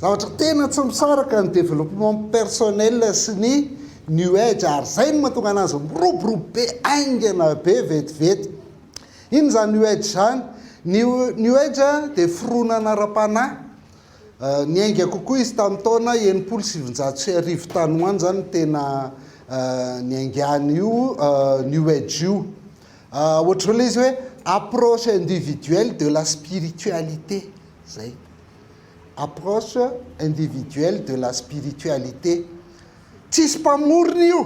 Zavatra tena tsy misaraka ny développement personnel sy ny new age ary zay no mahatonga anazy miroborobo be haingana be vetivety. Inona zany new age zany? Ny new age dia fironana ara-panahy niainga kokoa izy tamin'ny taona enimpolo sy sivinjato sy arivo tany ho any zany no tena niaingana io new age io. Ohatran'ilay izy hoe approche individuelle de la spiritualité zay. Approche individuelle de la spiritualité. Tsisy mpamorona io.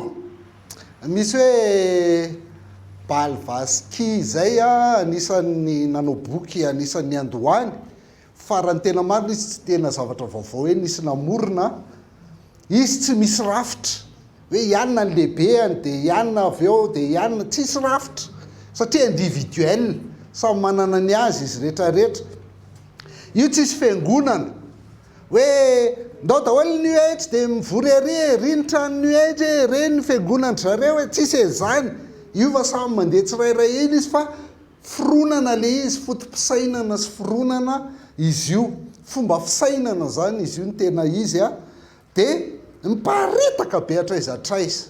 Misy hoe Bal Vaski izay anisan'ny nanao boky anisan'ny niandohany fa raha ny tena marina izy tsy tena zavatra vaovao hoe nisy namorona Izy tsy misy rafitra hoe ianona ny lehibeny dia ianona avy eo dia ianona, tsisy rafitra satria individuel, samy manana ny azy izy rehetra rehetra. Io tsisy fiangonana hoe ndao daholo ny UH dia mivory ery e, ry ny tranon'ny UH e, re ny fiangonan-dry zareo e, tsisy e zany, hiova samy mandeha tsirairay eny izy fa Fironana le izy, foto-pisainana sy fironana izy io, fomba fisainana izany izy io ny tena izy a! dia miparitaka be hatraiza hatraiza,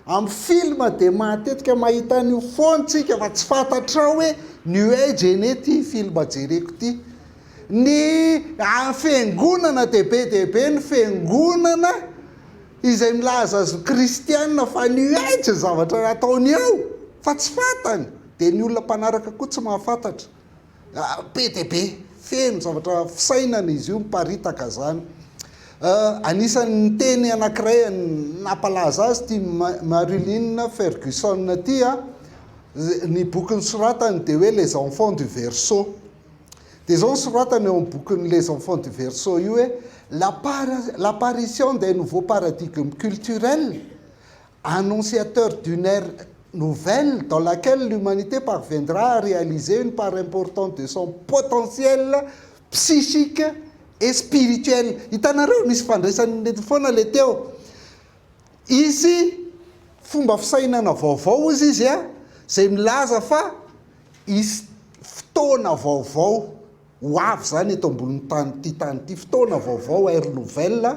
amin'ny film dia matetika mahita an'io foana tsika fa tsy fantatrao hoe new age anie ity film jereko ity, ny any fiangonana dia be dia be ny fiangonana izay milaza azy ho kristiana fa new age ny zavatra ataony ao fa tsy fantany. Dia ny olona mpanaraka koa tsy mahafantatra. Be dia be. Feno zavatra fisainana izy io miparitaka izany. Anisan'ny niteny anankiray nampalaza azy ity Marilyn Ferguson ity a. Ny boky nosoratany dia hoe Les enfants du verseau. Dia izao ny soratany eo amin'ny bokin'ny Les enfants du verseau io hoe, L'apparition d'un nouveau paradigme culturel, annonciateur d'une ère nouvelle dans laquelle l'humanité parviendra à réaliser une part importante de son potentiel psychique et spirituel. Hitanareo? Misy fandraisany nety foana le teo. Hisy fomba fisainana vaovao hozy izy a, zay milaza fa hisy fotoana vaovao. Ho avy izany eto ambonin'ny tany ity tany ity, fotoana vaovao, ère nouvelle.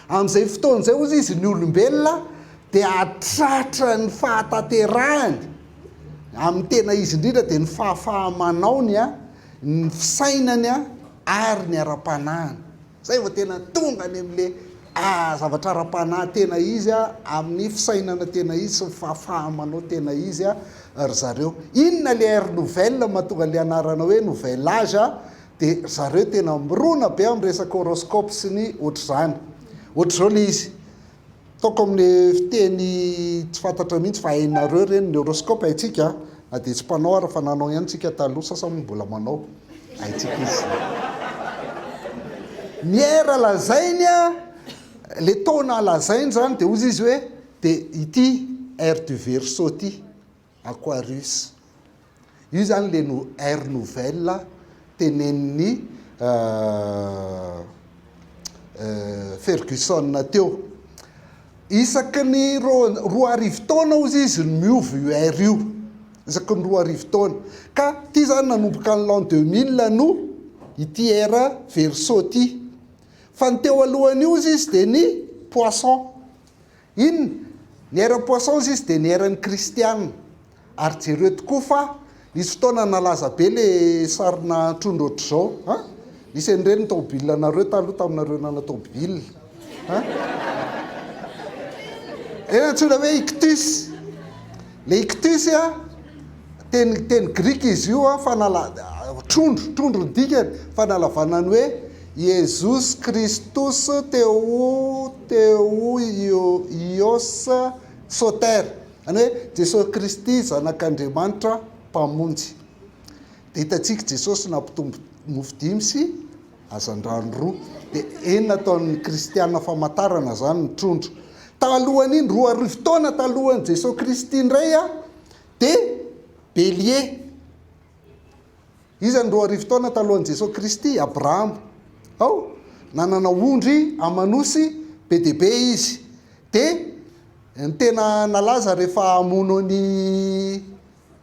Amin'izay fotoana izay, hoy izy, ny olombelona dia hahatratra ny fahatanterahany amin'ny tena izy indrindra dia ny fahafaha-manaony, ny fisainany ary ny ara-panahiny. Zay vao tena tonga any amin'le zavatra ara-panahy tena izy a, amin'ny fisainana tena izy sy ny fahafaha-manao tena izy a, ry zareo. Inona le ère nouvelle mahatonga an'le anarana hoe nouvel age a, de ry zareo tena mirona be amin'ny resaka horoscope sy ny ohatr'izany. Ohatr'izao le izy. Ataoko amin'ny fiteny tsy fantatra mihitsy fa hainareo ireny, ny horoscope haintsika na dia tsy mpanao ary fa nanao ihany isika taloha, sasany moa mbola manao, haintsika izy izay. Ny heure lazainy a, le taona lazainy izany dia hozy izy hoe dia ity heure du verseau ity. Aquarius. Io izany ilay no air nouvelle tenenin'i Ferguson teo. Isaky ny roa arivo taona hozy izy no miova io air io. Isaky ny roa arivo taona. Ka ity izany nanomboka ny l'an 2000 no ity air verseau ity. Fa ny teo alohan'io hozy izy dia ny poisson. Inn, ny eran'ny poissons izy dia ny eran'ny kristiana. Ary jereo tokoa fa nisy fotoana nalaza be le sarina trondro ohatr'izao a! Nisy an'ireny ny taobilanareo taloha taminareo nana-taobila a! Ireny antsoina hoe ictus. Le ictus a! Teny teny grika izy io a, fanala trondro, trondro ny dikany, fanalavana ny hoe Iesus Christus theou theou io ios soter, zany hoe Jesosy Kristy zanak'Andriamanitra mpamonjy. Dia hitantsika Jesosy nampitombo mofo dimy sy hazandrano roa, dia enina ataon'ny kristiana famantarana izany ny trondro. Talohan'iny, roa arivo taona talohan'i Jesosy Kristy indray a, dia Belie. Iza no roa arivo taona talohan'i Jesoa Kristy? Abrahama. Ao? Nanana ondry aman'osy be dia be izy. Dia ny tena nalaza rehefa hamono an'i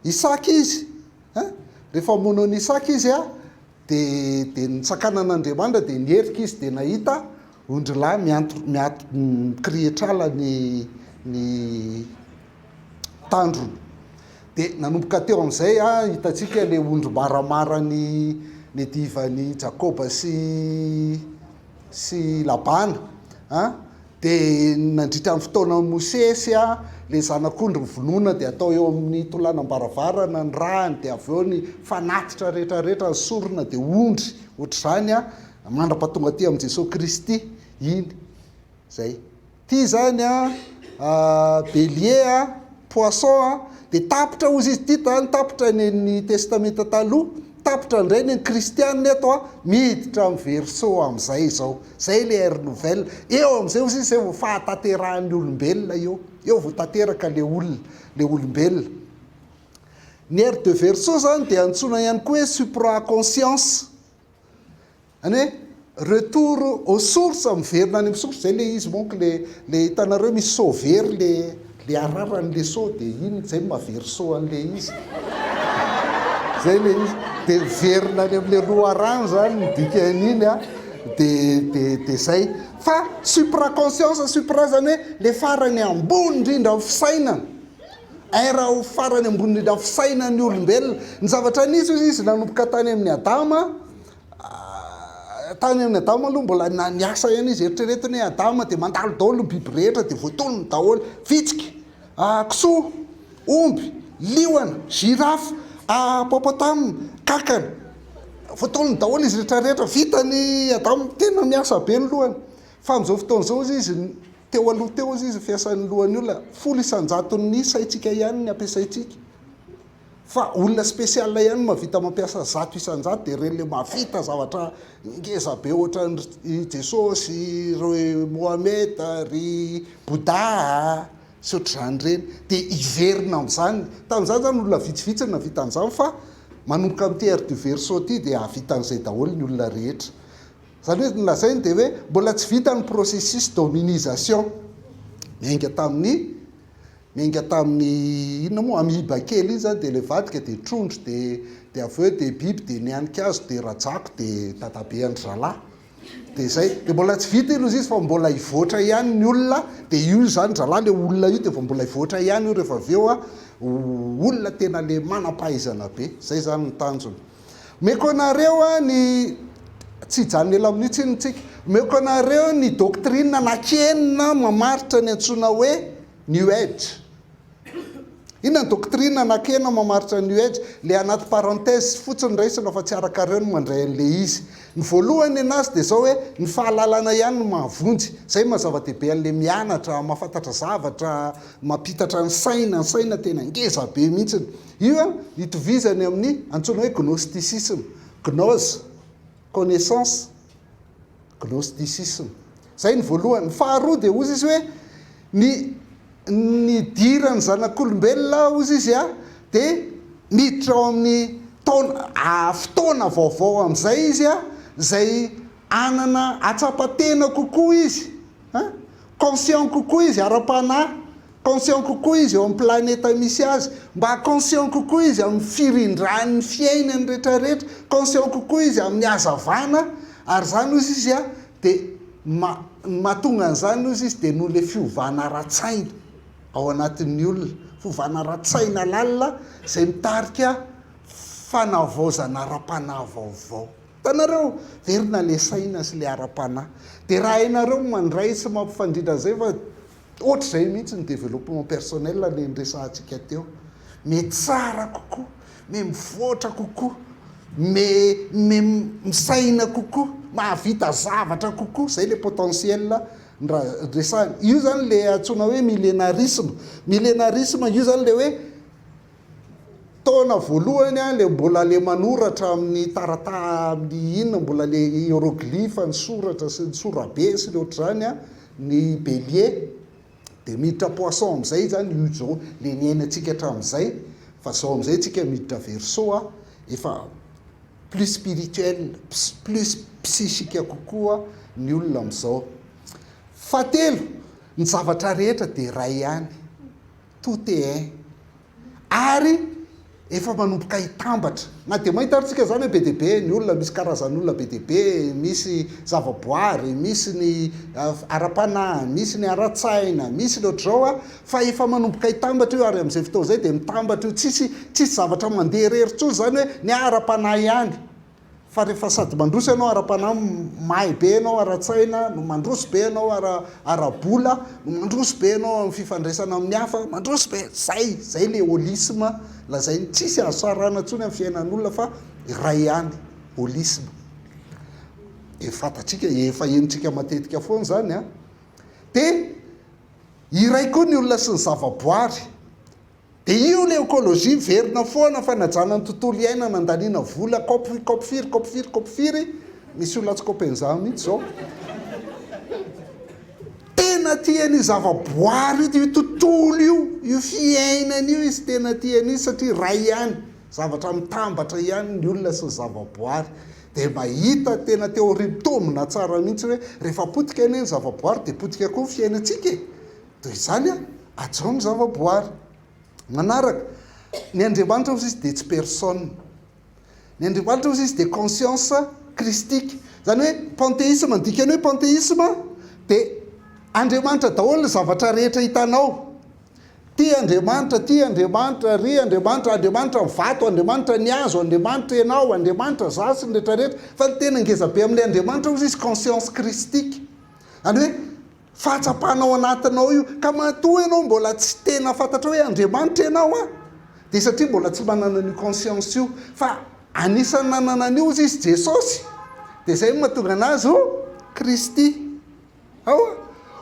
Isaka izy, ein? Rehefa hamono an'i Isaka izy, Dia, dia nitsakana an'Andriamanitra, dia nierika izy, dia nahita ondrilahy mianto, miato, mikirihitr'ala ny, ny tandrony. Dia nanomboka teo amin'izay, a, hitantsika ilay ondry maramara ny, ny divan'i Jakoba sy, sy Labana, a. Dia nandritra ny fotoanan'i Mosesy, ilay zanak'ondry novonoina dia atao eo amin'ny tolanam-baravarana ny rany, dia avy eo ny fanatitra rehetra rehetra, ny sorona dia ondry, ohatr'izany mandrapa tonga aty amin'i Jesoa Kristy iny, zay. Ity zany Bélier, Poisson, dia tapitra hozy izy, ity zany tapitra ny an'ny Testamenta Taloha, Tapitra indray ny kristianina eto a! Miditra amin'ny verseau amin'izay izao. Izay ilay ère nouvelle. Eo amin'izay hozy izy izay vao fahatanterahan'ny olombelona eo. Eo vao tanteraka ilay olona, ilay olombelona. Ny ère de verseau izany dia antsoina ihany koa hoe supra-conscience. Any hoe retour aux sources miverina any amin'ny source zay le izy mon ko le le hitanareo misy seau very le le ararany le seau de iny zay no mahavery seau an'le izy zay le izy de miverina any am'le loharano zany ny dikan'iny a de de de zay fa supra conscience supra zany hoe le farany ambony indrindra amin'ny fisainana era ho farany ambony indrindra amin'ny fisainan'ny olombelona ny zavatra nisy hoy izy nanomboka tany amin'ny adama Tany amin'i Adama aloha mbola na niasa ihany izy, eritrereto ny hoe Adama dia mandalo daholo ny biby rehetra dia voatonony daholo, vitsika, kisoa, omby, liona, girafe, hippopotames, kankana, voatonony daholo izy rehetra rehetra, vitany Adama, tena miasa be ny lohany, fa amin'izao fotoana izao hozy izy, teo aloha teo hozy izy ny fiasan'ny lohan'ny olona, folo isan-jaton'ny isa-ntsika ihany ny ampiasaintsika. Fa olona spécial ihany no mahavita mampiasa zato isan-jato dia ireny ilay mahavita zavatra ngeza be ohatran'i Jesosy, ry Mohamed, ry Bouddha sy ohatr'izany ireny. Dia hiverina amin'izany. Tamin'izany izany olona vitsivitsy no nahavita an'izany fa manomboka amin'ity ère du verseau ity dia hahavita an'izay daholo ny olona rehetra. Izany hoe ny lazainy dia hoe mbola tsy vita ny processus d'hominisation. Niainga tamin'ny. Niainga tamin'ny inona moa? Amiba kely iny izany dia ilay vadika dia trondro dia dia avy eo dia biby dia nianika azy dia rajako dia dadabe an-dry zalahy. Dia izay. Dia mbola tsy vita iny hozy izy fa mbola hivoatra ihany ny olona dia io izany ry zalahy ilay olona io dia vao mbola hivoatra ihany io rehefa avy eo olona tena ilay manam-pahaizana be. Izay izany ny tanjona. Omeko anareo ny tsy hijanona ela amin'io ny tsika. Omeko anareo ny doctrine anak'enina mamaritra ny antsoina hoe New Age. Inona ny doctrine anak'enina mamaritra ny New Age? Ilay anaty parenthèse fotsiny raisina fa tsy arakareo ny mandray an'ilay izy. Ny voalohany ny anazy dia izao hoe ny fahalalana ihany no mahavonjy. Izay no maha zava-dehibe an'ilay mianatra, mahafantatra zavatra, mampitatra ny saina, ny saina tena ngeza be mihitsy. Io itovizany amin'ny antsoina hoe gnostisisma, gnose, connaissance, gnostisisma. Izay ny voalohany. Ny faharoa dia hozy izy hoe ny nidiran'ny zanak'olombelona hozy izy dia miditra ao amin'ny taona, fotoana vaovao amin'izay izy izay hanana hatsapa-tena kokoa izy, conscient kokoa izy ara-panahy. Conscient kokoa izy eo amin'ny planeta misy azy, mba conscient kokoa izy amin'ny firindran'ny fiainany rehetra rehetra, conscient kokoa izy amin'ny hazavana, ary izany hozy izy a, dia ma, ny mahatonga an'izany hozy izy dia noho ilay fiovana ara-tsaina ao anatin'ny olona, fiovana ara-tsaina lalina izay mitarika fanavaozana ara-panahy vaovao. Hitanareo? Hiverina ilay saina sy ilay ara-panahy. Dia raha hainareo mandray sy mampifandrindra an'izay fa. Ohatr'izay mihitsy ny développement personnel niresahantsika teo. Me tsara kokoa, me mivoatra kokoa, me me misaina kokoa, mahavita zavatra kokoa, izay ilay potentiel ndra resahana. Io izany ilay antsoina hoe millénarisme. Millénarisme io izany ilay hoe Taona voalohany aho le mbola le manoratra amin'ny tarata amin'ny inona mbola le hieroglyphe ny soratra sy ny sorabe sy ny ohatr'izany a, ny bélier de miditra poisson amin'izay izy zany io zao le niainantsika hatramin'izay fa zao amin'izay antsika miditra verseau a efa plus spirituel plus psychique kokoa ny olona amin'izao. Fahatelo, ny zavatra rehetra de iray ihany. Tout est un. Ary efa manomboka hitambatra. Na dia mahita ary tsika izany hoe be dia be ny olona, misy karazan'olona be dia be, misy zava-boary, misy ny ara-panahy, misy ny ara-tsaina, misy ny ohatr'izao an, fa efa manomboka hitambatra io ary amin'izay fotoana izay dia mitambatra io, tsisy tsisy zavatra mandeha irery intsony izany hoe ny ahy ara-panahy ihany, Fa rehefa sady mandroso ianao ara-panahy, mahay be ianao ara-tsaina, no mandroso be ianao ara, ara-bola, no mandroso be ianao amin'ny fifandraisana amin'ny hafa, mandroso be, zay, zay le holisme lazainy. Tsisy azo sarahana intsony amin'ny fiainan'olona fa iray ihany, holisme. Dia fantatsika, efa henontsika matetika foana izany an. Dia iray koa ny olona sy ny zavaboary. Dia io ilay ekolojia verina foana fanajana ny tontolo iainana andaniana vola kop kop firy kop firy kop firy misy olona tsy kopen'izany mihitsy izao tena tiany io zavaboary io io tontolo io io fiainana io izy tena tiany izy satria ray ihany zavatra mitambatra ihany ny olona sy ny zavaboary dia mahita tena teoria mitombina tsara mihitsy hoe rehefa potika anie ny zavaboary dia potika koa ny fiainantsika e Toy izany an! Hajao ny zava-boary. Manaraka, Ny Andriamanitra hozy izy dia tsy personne. Ny Andriamanitra hozy izy dia conscience christique. Izany hoe panteisma, ny dikan'ny hoe panteisma dia Andriamanitra daholo ny zavatra rehetra hitanao. Ity Andriamanitra, ity Andriamanitra, ry Andriamanitra, Andriamanitra ny vato, Andriamanitra ny hazo, Andriamanitra ianao, Andriamanitra izaho sy ny rehetra rehetra. Fa ny tena ngeza be amin'ilay Andriamanitra hozy izy conscience christique. Izany hoe. Fahatsapana ao anatinao io. Ka matoa ianao mbola tsy tena fantatrao hoe Andriamanitra ianao an, dia satria mbola tsy mba nanana io conscience io. Fa anisan'ny nanana an'io ozy izy Jesosy, dia izay no mahatonga anazy ho Kristy. Ao an,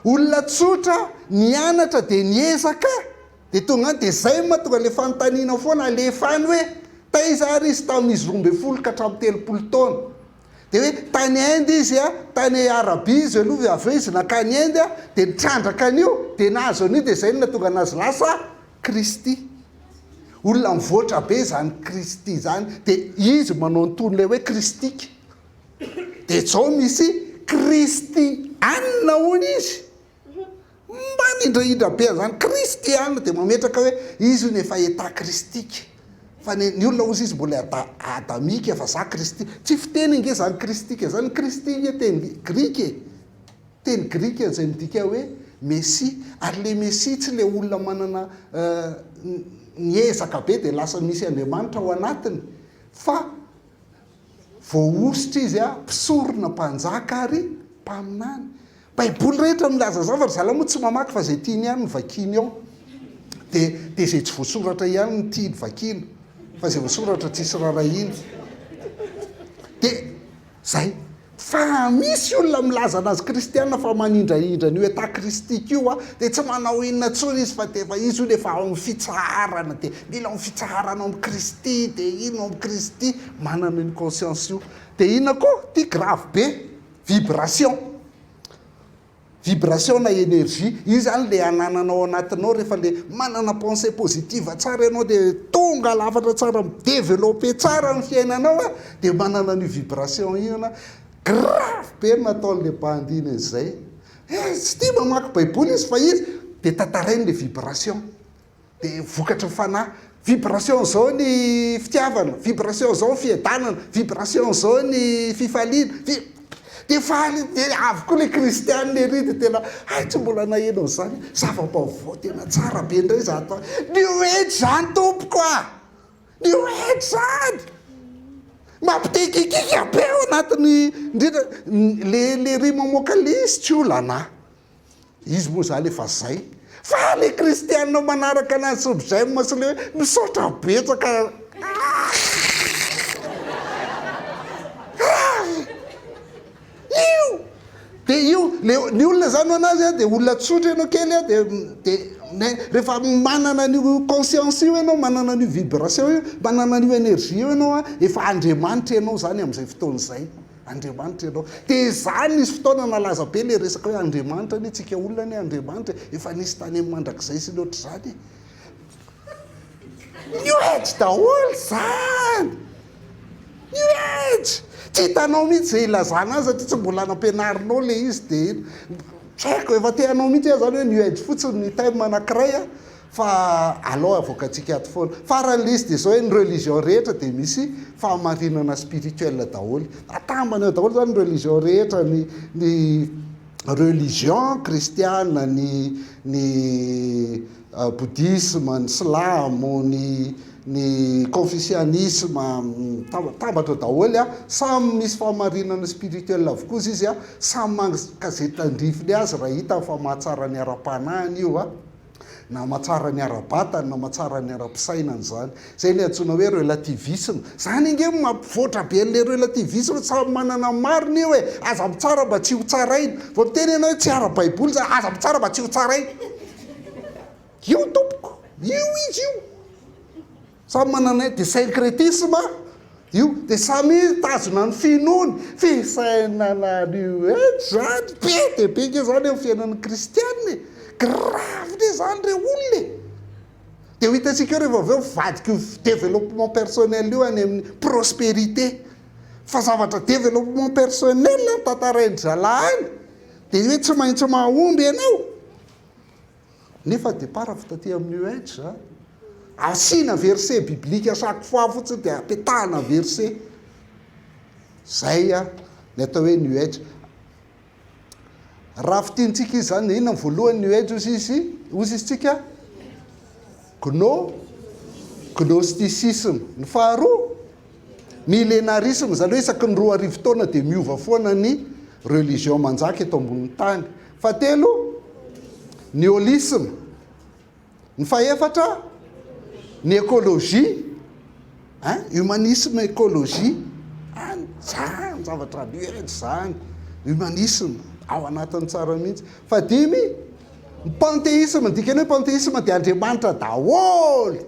olona tsotra nianatra dia niezaka, dia tonga any, dia izay no mahatonga ilay fanontaniana foana alefa any hoe, taiza ary izy tamin'izy roa ambin'ny folo ka hatramin'ny telopolo taona? Dia hoe tany Inde izy a, tany Arabia izy aloha ve, avy eo izy nankany Inde a, dia nitrandraka an'io, dia nahazo an'io, dia izay no nahatonga an'azy lasa Kristy. Olona mivoatra be izany Kristy izany, dia izy manao ny tohin'ilay hoe Kristika. Dia izao misy Kristiana hono izy. Mba nindrahindra be an'izany Kristy ihany dia mametraka hoe izy hono efa état Kristika. Fa ny ny olona hozy izy mbola ada adamika fa za Kristy. Tsy fiteny ange izany Kristika izany. Ny Kristy ange teny grika e. Teny grika izay midika hoe Mesia. Ary ilay Mesia tsy ilay olona manana ny ezaka be dia lasa misy Andriamanitra ao anatiny fa Voahosotra izy a, mpisorona, mpanjaka ary mpaminany. Baiboly rehetra milaza izany fa ry zalahy moa tsy mamaky fa izay tiany ihany no vakiany ao. Dia dia izay tsy voasoratra ihany no tiany vakiana fa izay voasoratra tsisy rarahiana. Dia izay. Fa raha misy olona milaza anazy kristiana fa manindrahindra an'io état christique io a, dia tsy manao inona intsony izy fa dia efa izy hono efa ao amin'ny fitsaharana dia mila ao fitsaharana ao amin'i Kristy dia iny ao amin'i Kristy manana io conscience io dia inona koa ity grave be vibration Vibration na energie, io zany le anananao ao anatinao rehefa le manana pensee positive tsara ianao de tonga lafatra tsara mi-developper tsara ny fiainanao a, de manana an'io vibration io ianao, grave be ny nataon'le bandy iny an'izay, eh tsy tia mamaky baiboly izy fa izy de tantarainy le vibration. Dia vokatry ny fanahy. Vibration izao ny fitiavana, vibration izao ny fiadanana, vibration izao ny fifaliana, vi-. Dia faly, dia avy koa ilay kristiana ery dia tena, hay tsy mbola naheno an'izany, zava-baovao tena tsara be indray izany fa, new age izany tompoko a! New age izany! Mampidikinkika be ao anatin'ny, indrindra, ilay, ilay ery mamoaka lisy tsy olana a! Izy moa zany efa zay fa le kristianina manaraka anazy sy ry j'aime sy le hoe misaotra betsaka io de io le ny olona zany ho anazy a de olona tsotra ianao kely a de de ne rehefa manana an'io conscience io ianao manana an'io vibration io manana an'io energie io ianao a efa andriamanitra ianao zany am'zay fotoana zay Andriamanitra ianao. Dia izaho nisy fotoana nalaza be ilay resaka hoe Andriamanitra anie, tsika olona anie Andriamanitra e, efa nisy tany amin'ny mandrakizay sy ny ohatr'izany e. New Age daholo izany! New Age! Tsy hitanao mihitsy izay ilazana azy satria tsy mbola nampianarinao ilay izy dia eny. Tsy haiko, efa te hanao mihitsy aho izany hoe New Age fotsiny ny thème anankiray a. Fa alou avoakantsika ato foana. Farany lzy dia izao hoe ny religion rehetra dia misy fahamarinana spirituel daholo. Atambany ao daholo izany ny religion rehetra, ny ny religion kristiana, ny ny bodisma, ny silamo, ny ny konfisianisma, atambatra ao daholo an. Samy misy fahamarinana spirituel avokoa izy izy an. Samy maka izay tandrifiny azy raha hitany fa mahatsara ny ara-panahiny io an. na mahatsara ny ara-batany na mahatsara ny ara-pisainany izany. Izay ilay antsoina hoe relativisme. Izany ange no mampivoatra be an'ilay relativisme, samy manana ny marina io e! Aza mitsara mba tsy hotsaraina. Vao miteny ianao hoe tsy ara-baiboly izany, aza mitsara mba tsy hotsaraina. Io tompoko, io izy io. Samy mananay de syncretisme io de samy mitazona ny finoany, fisainana new age zany be de be nge zany amin'ny fiainan'ny kristiana e! grave nge zany re olona e! de ho hitantsika eo rehefa avy eo mivadika io développement personnel io any amin'ny prosperité fa zavatra développement personnel no tantarain-dry zalahy any de io hoe tsy maintsy mahomby ianao. Nefa départ avy taty amin'ny UH a. Asiana verset biblique à chaque fois fotsiny dia apetahana verset. Zay a ny atao hoe new age. Raha fitintsika izy zany inona ny voalohany new age ozy izy ozy izy tsika? Gno gnosticisme. Ny faharoa millénarisme zany hoe isaky ny roa arivo taona dia miova foana ny religion manjaka eto ambonin'ny tany. Fahatelo, ny holisma. Ny fahefatra, ny ekolojia. Ein, humanisme, ekolojia. Any, tsara ny zavatra miheja izany. Humanisme, ao anatiny tsara mihitsy. Fahadimy, ny panteisma. Ny dikan'ny hoe panteisma dia Andriamanitra daholo.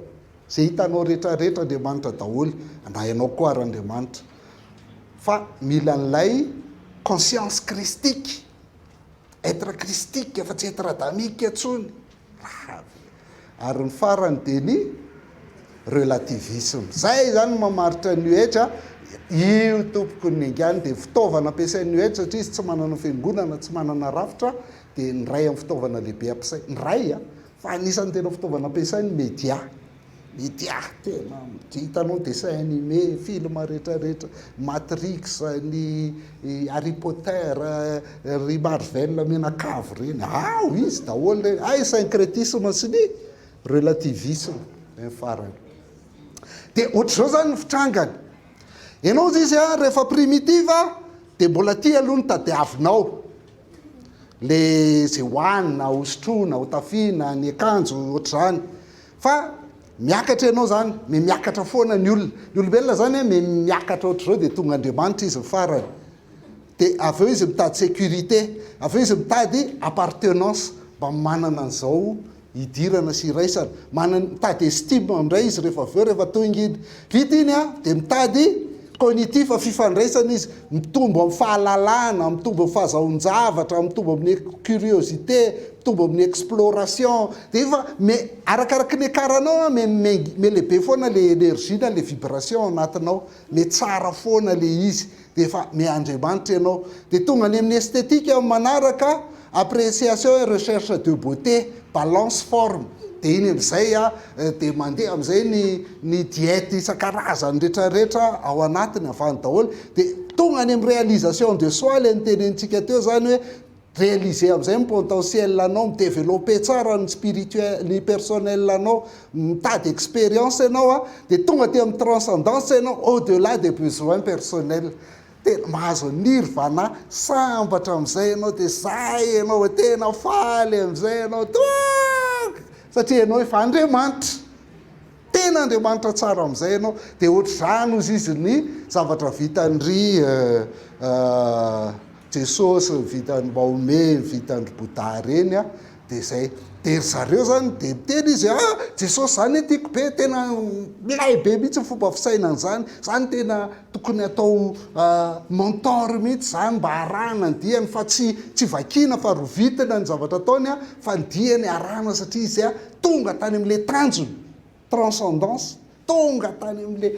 Izay hitanao rehetra rehetra Andriamanitra daholo. Na ianao koa ary Andriamanitra. Fa mila an'ilay conscience christique. Être christique fa tsy être adamique intsony. Rahavy. Ary ny farany dia ny relativisme. Izay izany no mamaritra ny New Age a. Io tompoko ny engany dia fitaovana ampiasain'ny New Age satria izy tsy manana fiangonana, tsy manana rafitra dia ny iray amin'ny fitaovana lehibe ampiasainy. Ny iray a, fa anisan'ny tena fitaovana ampiasainy ny media. Ity ah tena mdy hitanao dessin anime, film rehetra rehetra, matrix, ny harry potter, ry marvel menakavy reny ao izy daholo reny hay syncretisme sy ny relativisme ny farany de otrzao zany ny fitrangany enao zy izy ah rehefa primitive de mbola ty aloha ny tadiavinao le ze hoanina hosotrona hotafiana ny akanjo otrzany Fa miakatra ianao izany, mihamiakatra foana ny olona. Ny olombelona izany an, mihamiakatra ohatr'izao dia tonga Andriamanitra izy ny farany. Dia avy eo izy mitady sécurité, avy eo izy mitady appartenance, mba manana an'izao hidirana sy hiraisana. Manana, mitady estime indray izy rehefa avy eo, rehefa tonga iny. Vita iny an, dia mitady cognitif, fifandraisana izy, mitombo amin'ny fahalalana, mitombo amin'ny fahazahoan-javatra, mitombo amin'ny curiosité, mitombo amin'ny exploration, dia efa me- arakaraky ny ekaranao an, me- me- me-lehibe foana ilay énergie na ilay vibration ao anatinao, me- tsara foana ilay izy, dia efa miandriamanitra ianao. Dia tonga any amin'ny esthétique ny manaraka, appréciation et recherche de beauté, balance forme. Dia iny amin'izay dia mandeha amin'izay ny ny diète isan-karazany rehetra rehetra ao anatiny avy any daholo. Dia tonga any amin'ny réalisation de soi ilay notenenintsika teo izany hoe, Realiser amin'izay ny potentiel anao, mi-developper tsara ny spirituel, ny personnel anao, mitady expérience ianao a, dia tonga aty amin'ny transcendance ianao, au delà des besoins personnels. Tena mahazo an'i Nirvana, sambatra amin'izay ianao, dia zay ianao vao tena faly amin'izay ianao, toaka! satria ianao efa Andriamanitra. Tena Andriamanitra tsara amin'izay ianao dia ohatr'izany hozy izy ny zavatra vitan'ry Jesosy, vitan'i Mahomet, vitan'ry Bouddha ireny an, dia izay. Dia ry zareo izany dia miteny izy ah! Jesosy izany tiako be, tena milay be mihitsy ny fomba fisainany izany, izany tena. Tokony atao mentor mihitsy izany mba arahana ny diany fa tsy tsy vakiana fa rovitina ny zavatra ataony fa ny diany arahana satria izy tonga tany amin'ilay tanjona, transcendance, tonga tany amin'ilay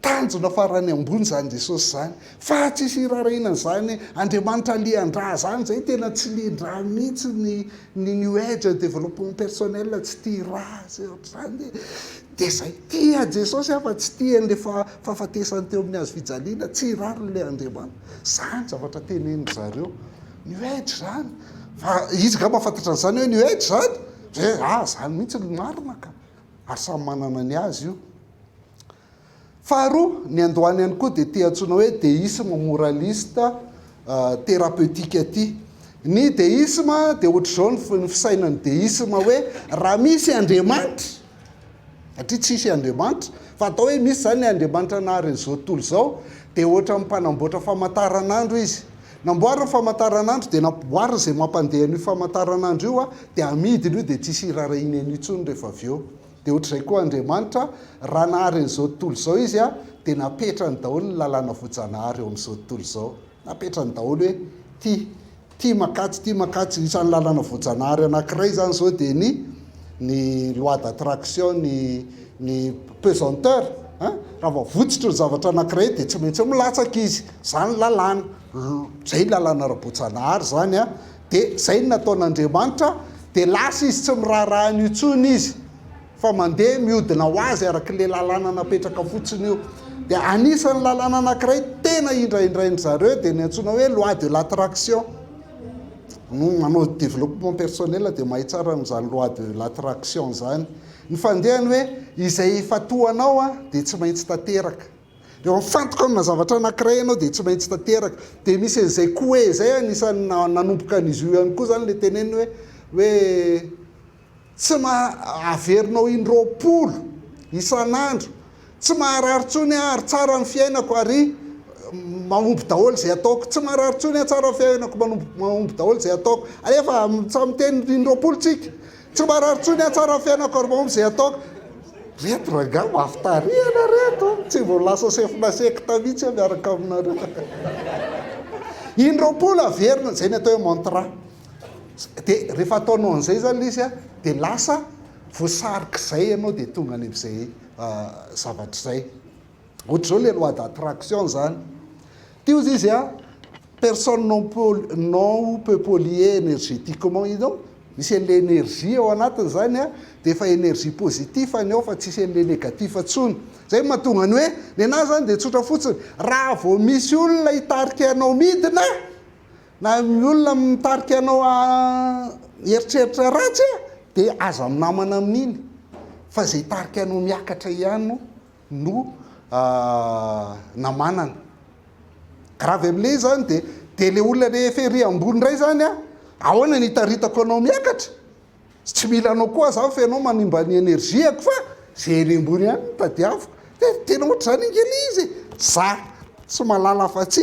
tanjona farany ambony izany Jesosy izany fa tsy hisy hiraharahiana an'izany Andriamanitra alian-drà izany, izay tena tsy lian-drà mihitsy ny ny new age, developpement personnel tsy tia rà sy ohatr'izany. Dia izay tia Jesosy aho fa tsy tia an'ilay fahafatesany teo amin'ny hazo fijaliana, tsy rarin'ilay Andriamanitra. Izany ny zavatra tenenin-dry zareo. New Age izany. Fa izy angamba fantatra an'izany hoe New Age izany? Ve? Ah, izany mihitsy no marina ka! Ary samy manana ny azy io. Faharoa, ny androany ihany koa dia ity antsoina hoe deisme moraliste thérapeutique ity. Ny deisme dia ohatr'izao ny fisainan'ny deisme hoe raha misy Andriamanitra, satria tsy hisy Andriamanitra, fa atao hoe misy izany ny Andriamanitra naharen'izao tontolo izao, dia ohatran'ny mpanamboatra famantaranandro izy. Namboariny famantaranandro dia namboariny izay mampandeha an'io famantaranandro io dia amidiny io dia tsy hisy hiraharahiana an'io intsony rehefa avy eo. Dia ohatr'izay koa Andriamanitra, raha nahary an'izao tontolo izao Izy, dia napetrany daholo ny lalàna voajanahary eo amin'izao tontolo izao. Napetrany daholo hoe, ity, ity mankatso, ity mankatso. Isan'ny lalàna voajanahary anankiray izany izao dia ny ny loi d'attraction, ny ny pesanteur an! Raha vao votsotra ny zavatra anankiray dia tsy maintsy milatsaka izy. Izany lalàna. Izay lalàna ara-boajanahary izany an! dia izay no nataon'Andriamanitra, dia lasa izy tsy miraharaha an'io intsony izy, fa mandeha mihodina ho azy arak'ilay lalàna napetraka fotsiny io. Dia anisan'ny lalàna anankiray tena indraindrain-dry zareo dia ny antsoina hoe loi de l'attraction. No manao développement personnel dia mahay tsara an'izany loi de l'attraction izany. Ny fandehany hoe izay efa toa anao dia tsy maintsy tanteraka. Rehefa mifantoka amina zavatra anankiray ianao dia tsy maintsy tanteraka. Dia misy an'izay koué izay, anisan'ny nanomboka an'izy io ihany koa izany ilay teneniny hoe hoe tsy maha, averinao in-roapolo isan'andro, tsy maharary intsony aho ary tsara ny fiainako ary mahomby daholo izay ataoko, tsy maharary intsony aho, tsara ny fiainako, mahomby daholo izay ataoko. Alefa samy miteny in-roapolo tsika. Tsy marary tsony aho tsara fiainako ary mamo izay ataoko. Reto rangah mafy tarehy ianareo reto tsy mbo lasa chef na secte mihitsy aho miaraka aminareo in roapolo averina izay ny atao hoe mantra de rehefa ataonao an'izay zany lisy a de lasa voasarik'izay ianao de tonga any am'izay zavatra izay ohatr'izao le loi d'attraction zany Teo zay izy a, personne non pol- non ou peu polluer energetiquement iny ao, misy an'ilay energie ao anatiny zany a, dia efa energie positif ny ao fa tsisy an'ilay negatif tsony. Zay no mahatonga ny hoe, nenaha zany dia tsotra fotsiny, raha vao misy olona hitarika anao midina, na ny olona mitarika anao hieritreritra ratsy dia aza minamana amin'iny fa zay hitarika anao miakatra ihany no. no namanana. Grave amle izy zany de de le olona rehefa ery ambony indray zany a ahoana ny hitaritako anao miakatra? Sy tsy mila anao koa za fa ianao manimba ny energie-ko fa ze ery ambony ihany no tadiaviko. Tena ohatr'izany ange le izy e! Za tsy mahalala afa-tsy.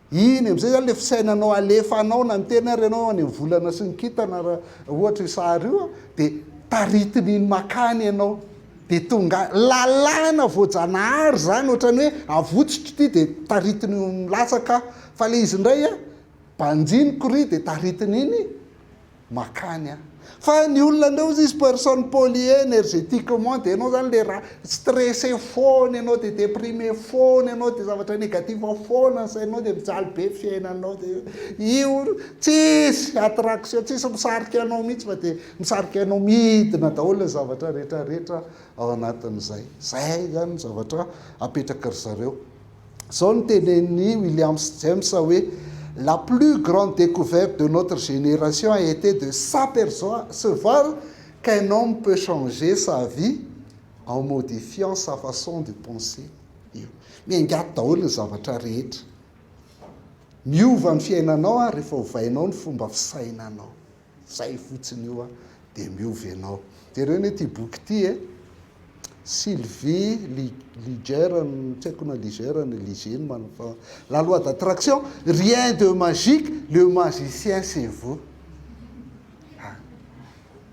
Iny amin'izay izany ilay fisainanao alefanao na miteny ary ianao any amin'ny volana sy ny kintana raha ohatra io sary io dia taritin'iny makany ianao dia tonga any. Lalàna voajanahary izany ohatrany hoe avotsotro ity dia taritin'io milatsaka fa ilay izy indray banjiniko ry dia taritin'iny makany an! Fa ny olona ndray ozy izy personne polie energetiquement dia ianao izany dia raha stressé foana ianao dia déprimé foana ianao dia zavatra négatif foana ny sainao dia mijaly be ny fiainanao dia io tsisy attraction tsisy misarika anao mihitsy fa dia misarika anao midina daholo ny zavatra rehetra rehetra ao anatin'izay izay izany ny zavatra apetraka ry zareo Zao no tenenin'i Williams James hoe, La plus grande decouverte de notre génération a été de s'apercevoir qu'un homme peut changer sa vie en modifiant sa façon de penser. Io. Miaingaty daholo ny zavatra rehetra. Miova ny fiainanao rehefa ovainao ny fomba fisainanao. Zay fotsiny io a de miova ianao. Jereo anie ity boky ity e. Sylvie Liger no tsy haiko na Liger na Liger no manao fa La loi d'attraction, rien de magique, le magicien c'est vous. Ah,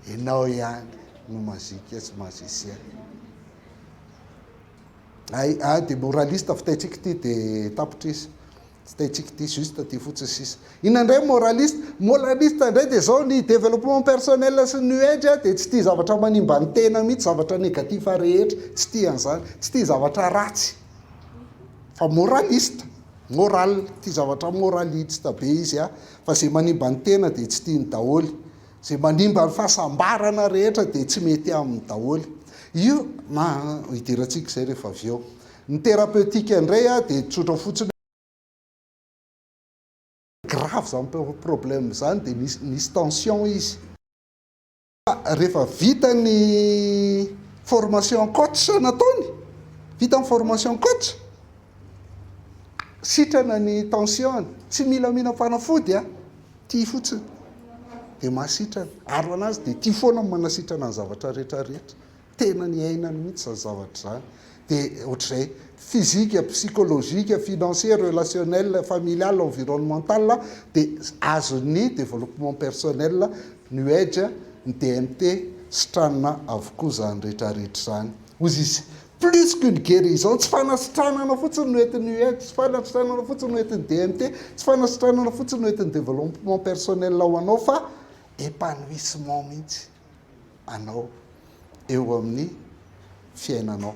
ianao ihany no magique sy magicien. Ay, ah, dia moraliste fitaintsika ity dia tapitra izy. Tsy taintsika ity juste ity fotsiny sisa. Inona indray moraliste? Moraliste indray dia izao ny développement personnel sy new age dia tsy tia zavatra manimba ny tena mihitsy, zavatra négatif rehetra, tsy tia an'izany, tsy tia zavatra ratsy. Fa moraliste, moral, tia zavatra moraliste be izy a, fa zay manimba ny tena dia tsy tiany daholo. Zay manimba ny fahasambarana rehetra dia tsy mety aminy daholo. Io ma hidirantsika izay rehefa avy eo. Ny thérapeutique indray a dia tsotra fotsiny hoe grave izany problème izany dia nisy nisy tension izy. Rehefa vita ny formation coach nataony, vita ny formation coach, sitrana ny tension-ny, tsy mila mihina fanafody a, tia fotsiny dia mahasitrana, aro an'azy dia tia foana ny manasitrana ny zavatra rehetra rehetra. tena niainany mihitsy izany zavatra izany dia ohatr'izay physique, psychologique, financier, relationnel, familial, environnemental dia azon'ny développement personnel, new age, ny DMT sitranina avokoa izany rehetra rehetra izany hozy izy. Plus qu'une guérison, tsy fanasitranana fotsiny no entin'ny new age, tsy fanasitranana fotsiny no entin'ny DMT, tsy fanasitranana fotsiny no entin'ny développement personnel ho anao fa épanouissement mihitsy. anao eo amin'ny fiainanao.